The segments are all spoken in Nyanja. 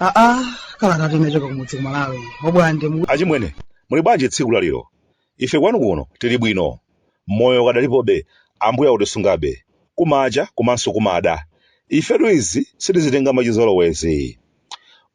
aa kalatayi inachoka kumudzi kumalawi obwande achimwene muli bwanji tsiku la lero Ife kwanu kuno tili bwino. Moyo ukadalipobe, Ambuye akutisungabe. Kumacha komanso kumada. Ifetu izi sitizitenga mwachizolowezi.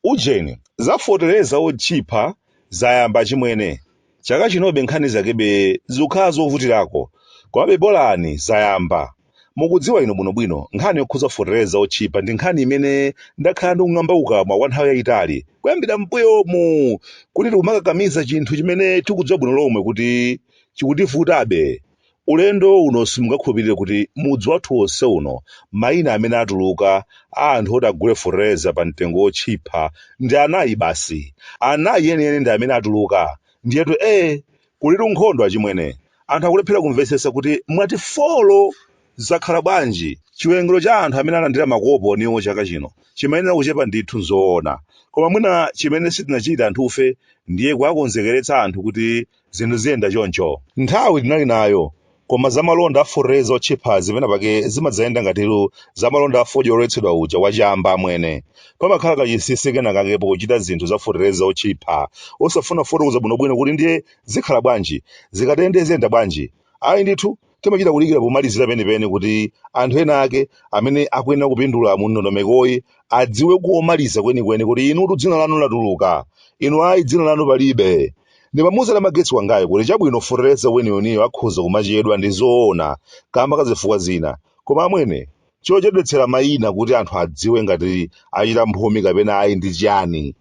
Ujeni, za fotereza wotchipha zayamba achimwene. Chaka chinobe nkhani zakebe zikukhala zovutirako. Komabe bolani zayamba. Mukudziwa inu bwino bwino nkhani yokhuza fotereza otchipa ndi nkhani imene ndakhala ndikung'amba kukamwa kwa nthawi yayitali kuyambira m'buyomu kuti tikumakakamiza chinthu chimene tikudziwa bwino lomwe kuti chikutivutabe. Ulendo uno simungakhulupirire kuti mudzi wathu wonse uno mayina amene atuluka a anthu oti agule fotereza pa mtengo wotchipha ndi anayi basi. Anayi enieni ndi amene atuluka. Ndiyetu ee! Kulitu nkhondo achimwene. Anthu akulephera kumvetsetsa kuti mwati folo! Zakhala bwanji? Chiwerengero cha anthu amene alandira makoponiwo chaka chino chimayenera kuchepa ndithu nzoona. Koma mwina chimene sitinachite anthufe ndiye kuwakonzekeretsa anthu kuti zinthu ziyenda choncho. Nthawi tinali nayo Koma zamalonda a fotereza otchiphazi penapake zimadzayenda ngatitu zamalonda a fodya oletsedwa uja wa chamba amwene. Pamakhala kachinsinsi kenakake pokuchita zinthu za fotereza otchipha, osafuna kufotokoza bwinobwino kuti ndiye zikhala bwanji, zikatende ziyenda bwanji. Ayi ndithu, timachita kudikira pomalizira penipeni kuti anthu ena ake amene akuyenera kupindula mu ndondomekoyi adziwe komaliza kwenikweni kuti inutu dzina lanu latuluka, inu ayi dzina lanu palibe. Ndimamuuza Namagetsi wangayo kuti chabwino fotereza weniweniyo akhoza kumachedwa ndi zoona kamba ka zifukwa zina, koma amwene, chochedwetsera maina kuti anthu adziwe ngati achita mphumi kapena ayi ndi chani?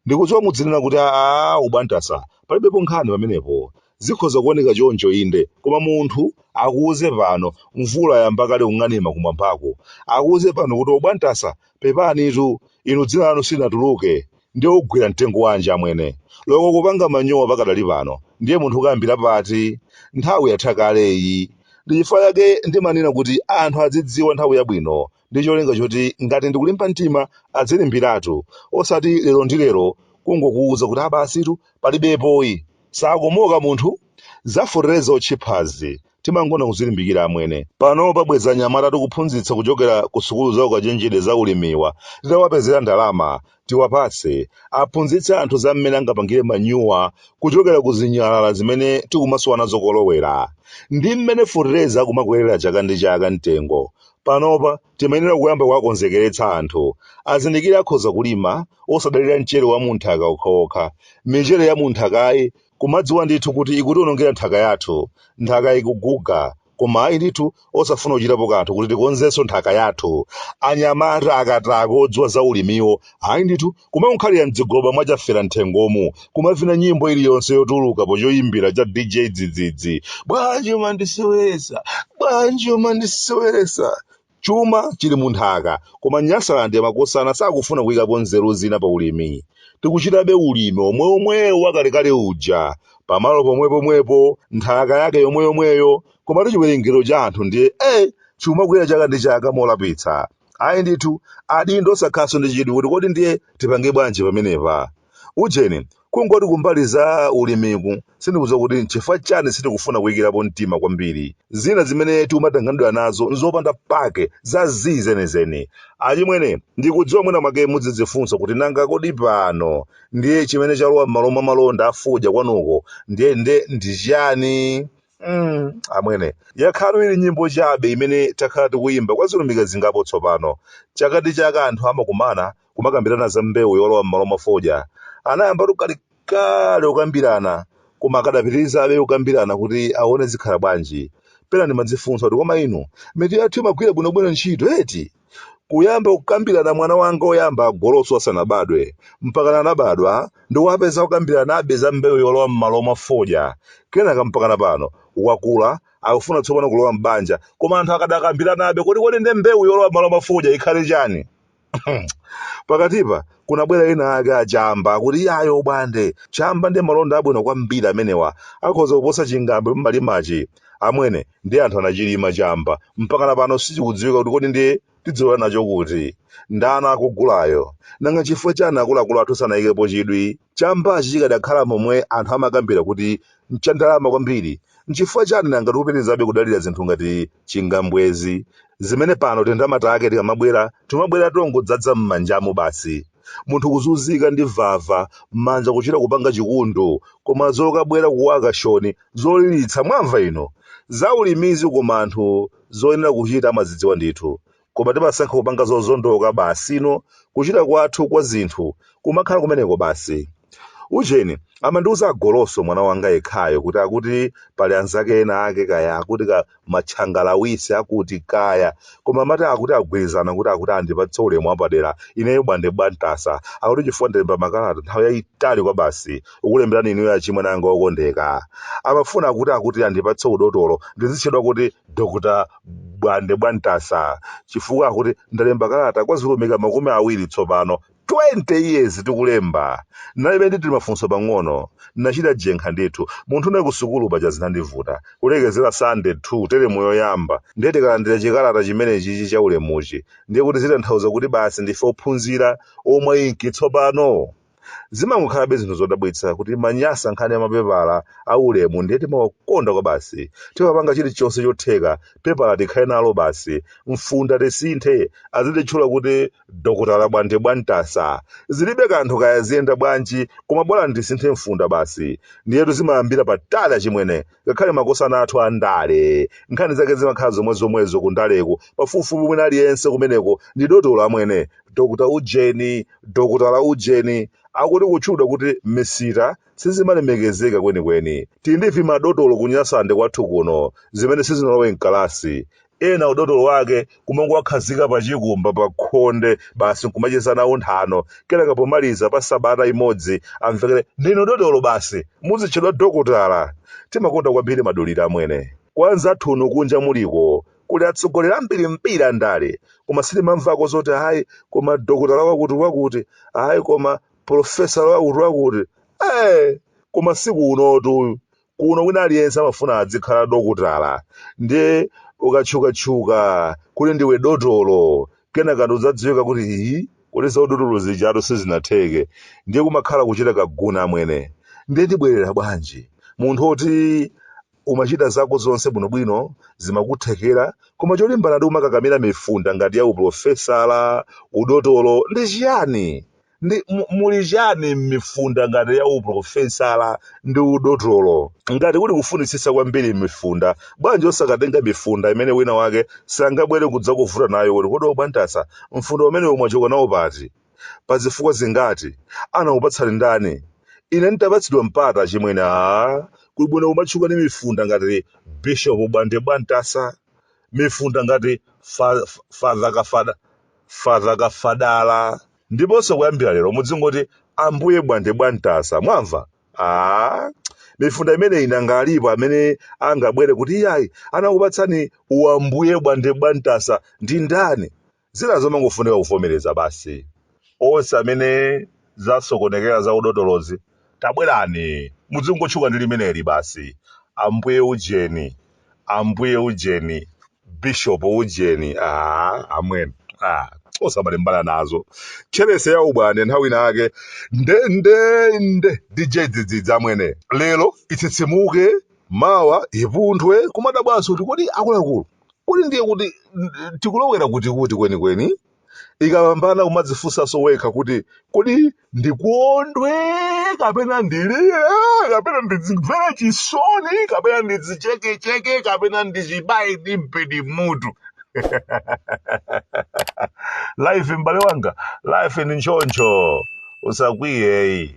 Ndikudziwa mudzinena kuti aah obwantasa, palibepo nkhani pamenepo. Zikhoza kuoneka choncho inde, koma munthu akuuze pano, mvula yayamba kale kung'anima kumwambako, akuuze pano kuti obwantasa pepanitu, inu dzina lanu silinatuluke, Ndiye ugwira mtengo wanji amwene? Loko kupanga manyowa pakadali pano ndiye munthu ukayambira pati? Nthawi yatha kale iyi. Ndi chifukwa chake ndimanena kuti anthu adzidziwa nthawi yabwino ndi cholinga choti ngati ndikulimba mtima adzilimbiratu osati lero ndi lero kungokuuza kuti aa basitu palibepoyi. Sakomoka munthu? Za fotereza otchiphazi Timangoona kuzilimbikira amwene. Panopa bwezi anyamata tikuphunzitsa kuchokera ku sukulu za ukachenjede za ulimiwa titawapezera ndalama. Tiwapatse, aphunzitse anthu za mmene angapangire manyuwa kuchokera ku zinyalala zimene tikumasowa nazo kolowera. Ndi mmene fetereza akumakwerera chaka ndi chaka mtengo. Panopa timayenera kuyamba kuwakonzekeretsa anthu. Azindikire akhoza kulima, osadalira mchere wa mu nthaka okhaokha. Michere ya mu nthakayi Kumadziwa ndithu kuti ikutiwonongera nthaka yathu. Nthaka ikuguga. Koma ayi ndithu osafuna kuchitapo kanthu kuti tikonzenso nthaka yathu. Anyamata akatakwe odziwa za ulimiwo, ayi ndithu kumakakhalira m'dzigoba mwa chafera m'thengomu, kumavina nyimbo iliyonse yotuluka po choyimbira cha DJ Dzidzidzi. Bwanji umandiseweretsa? Bwanji umandiseweretsa? Chuma chili mu nthaka koma Nyasalande makosana sakufuna kuyikapo nzeru zina pa ulimi. Tikuchitabe ulimi omweomwewo wakalekale uja, pamalo pomwepomwepo, nthaka yake yomweyomweyo, komatu chiwerengero cha anthu ndiye eh! chikumakwera chaka ndi chaka molapitsa. Ayi ndithu, adindo osakhalanso ndi chidwi kuti kodi ndiye tipange bwanji pamenepa? Ujeni, Kungoti kumbali za ulimiku, sindikudziwa kuti n'chifukwa chani sitikufuna kuyikirapo mtima kwambiri. Zina zimene tikumatanganidwa nazo n'zopanda pake, za zii zenizeni. Achimwene, ndikudziwa mwina mwake mudzidzifunsa kuti nanga kodi pano ndiye chimene chalowa m'malo mwa malonda a fodya kwanuko ndiye nde ndi chani? Mm, amwene, yakhalatu ili nyimbo chabe imene takhala tikuyimba kwa zilumika zingapo tsopano. Chaka ndi chaka anthu amakumana kumakambirana za mbewu yolowa m'malo mwa fodya anayambatu kalekale kukambirana koma akadapitirizabe kukambirana kuti aone zikhala bwanji pena ndimadzifunsa kuti koma inu mitu yathu imagwira bwinobwino ntchito eti kuyamba kukambirana mwana wanga oyamba agoloso asanabadwe mpakana anabadwa ndikuwapeza akukambiranabe za mbewu yolowa m'malo mwa fodya kenaka mpakana pano wakula akufuna tsopano kulowa m'banja koma anthu akadakambiranabe kuti kodi nde mbewu yolowa m'malo mwa fodya ikhale chani pakatipa kunabwera ena ake achamba akuti iyayi obwande chamba ndi malonda abwino kwambiri amenewa akhoza kuposa chingambwe mumalimachi amwene ndi anthu anachilima chamba mpakana pano sichikudziwika kuti kodi ndiye tidzilowera nacho kuti ndani akugulayo nanga chifukwa chani akuluakulu athu sanayikepo chidwi chambachi chikadakhala momwe anthu amakambira kuti n'chandalama kwambiri, n'chifukwa chani nanga tikupitirizabe kudalira zinthu ngati chingambwezi, zimene pano tindalama take tikamabwera, timabwera tongodzadza m'manjamu basi? Munthu kuzunzika ndi vava, manja kuchita kupanga chikundu, koma zokabwera ku okushoni, zolilitsa, mwamva inu? Zaulimizi koma anthu zoyenera kuchita amazidziwa ndithu. koma timasankha kupanga zozondoka basi ino kuchita kwathu kwa zinthu kumakhala kumeneko basi ujeni amandiuza agoloso mwana wanga yekhayo kuti akuti pali anzake ena ake kaya akuti ka matchangalawisi akuti kaya koma amati akuti agwirizana kuti akuti andipatse ulemu wapadera ineyo bwande bwantasa akuti chifukwa ndalemba makalata nthawi yayitali kwa basi ukulemberani inuyo achimwe nanga okondeka amafuna akuti akuti andipatse udotolo ndizitchedwa kuti dr bwande bwantasa chifukwa akuti ndalemba kalata kwa zilumika makumi awiri tsopano 20 years tikulemberana ndiye ndili mafunso pang'ono nachita jenkha ndithu munthune kusukulu paja zinandivuta kulekezera sande 2 teremu yoyamba ndiye tikalandira chikalata chimenechichi cha ulemuchi ndiye kuti zitanthawuza kuti basi ndife ophunzira omwe inki tsopano zimangokhalabe zinthu zodabwitsa kuti manyasa nkhani ya mapepala a ulemu ndiye timawakonda kwa basi timapanga chilichonse chotheka pepala tikhale nalo basi mfunda tisinthe azititchula kuti dokotala bwande bwantasa zilibe kanthu kaya ziyenda bwanji koma bola ndisinthe mfunda basi ndiyetu zimayambira patali achimwene ngakhale makosana athu a ndale nkhani zake zimakhala zomwezomwezo ku ndaleku pafupifupi mwina aliyense kumeneko ndi dotolo amwene dr ujeni dokotala ujeni akuti kutchudwa kuti misita sizimalemekezeka kwenikweni tili ndi vimadotolo ku nyasalande kwathu kuno zimene sizinalowe mkalasi ena udotolo wake kumangowakhazika pa chikumba pa khonde basi nkumachezana nthano kenaka pomaliza pa sabata imodzi amvekere ndinu dotolo basi muzitchedwa dokotala timakonda kwambiri madulira amwene kwa anzathu kunja muliko kuli atsogoleri ambirimbiri andale koma sitimamvako zoti ayi koma dokotala wakuti wakuti ayi koma profesala wakuti wakuti ee koma sikunotu kuno wina aliyense amafuna adzikhala dokotala ndiye ukatchukatchuka kuti ndiwe dotolo kenaka udzadziwika kuti iyi kuti zaudotolo zijatu sizinatheke ndiye kumakhala kuchita kaguna amwene ndiye ndibwerera bwanji munthu oti umachita zako zonse bwinobwino zimakuthekera koma cholimbana ndi kumakakamira mifunda ngati ya uprofesala udotolo ndi chiyani Ndi, mu, muli chiyani m'mifunda ngati ya uprofesala ndi udotolo? Ngati kuti kufunitsitsa kwambiri m'mifunda, bwanji osakatenga mifunda imene wina wake sangabwere kudzakuvuta nayo kuti kodi Obwantasa, mfunda umenewu mwachoka nawo pati? Pazifukwa zingati? Anakupatsani ndani? Ine n'tapatsidwa mpata, achimwene, aah, kuli bwino kumatchuka ndi mifunda ngati Bishop Bwande Bwantasa, mifunda ngati Fa, Fa, Father Kafada, Father Kafadala, ndiponso kuyambira lero mudzingoti ambuye bwande bwantasa mwamva mifunda imeneyi nanga alipo amene angabwere kuti iyayi anakupatsani uambuye bwande bwantasa ndi ndani zina zomangofunika kuvomereza basi onse amene zasokonekera za udotolozi Tabwerani, mudzingotchuka ndi limeneli basi. Ambuye Ujeni, Ambuye Ujeni, Bishop Ujeni, ah, amwene. Ah, osamalembana nazo. Tcherese ya ubwande nthawi ina yake nde nde nde DJ dzidzidzi amwene. Lero itsitsimuke, mawa ipunthwe, kumadabwanso kuti kodi akuluakulu. Kodi ndiye kuti mm, tikulowera kuti kuti kwenikweni? ikapambana kumadzifunsanso wekha kuti kodi ndikondwe kapena ndilire kapena ndidzimvere chisoni kapena ndidzichekecheke kapena ndidzibaye ndi mpeni mutu life m'bale wanga life ndi nchoncho usakwiyeyi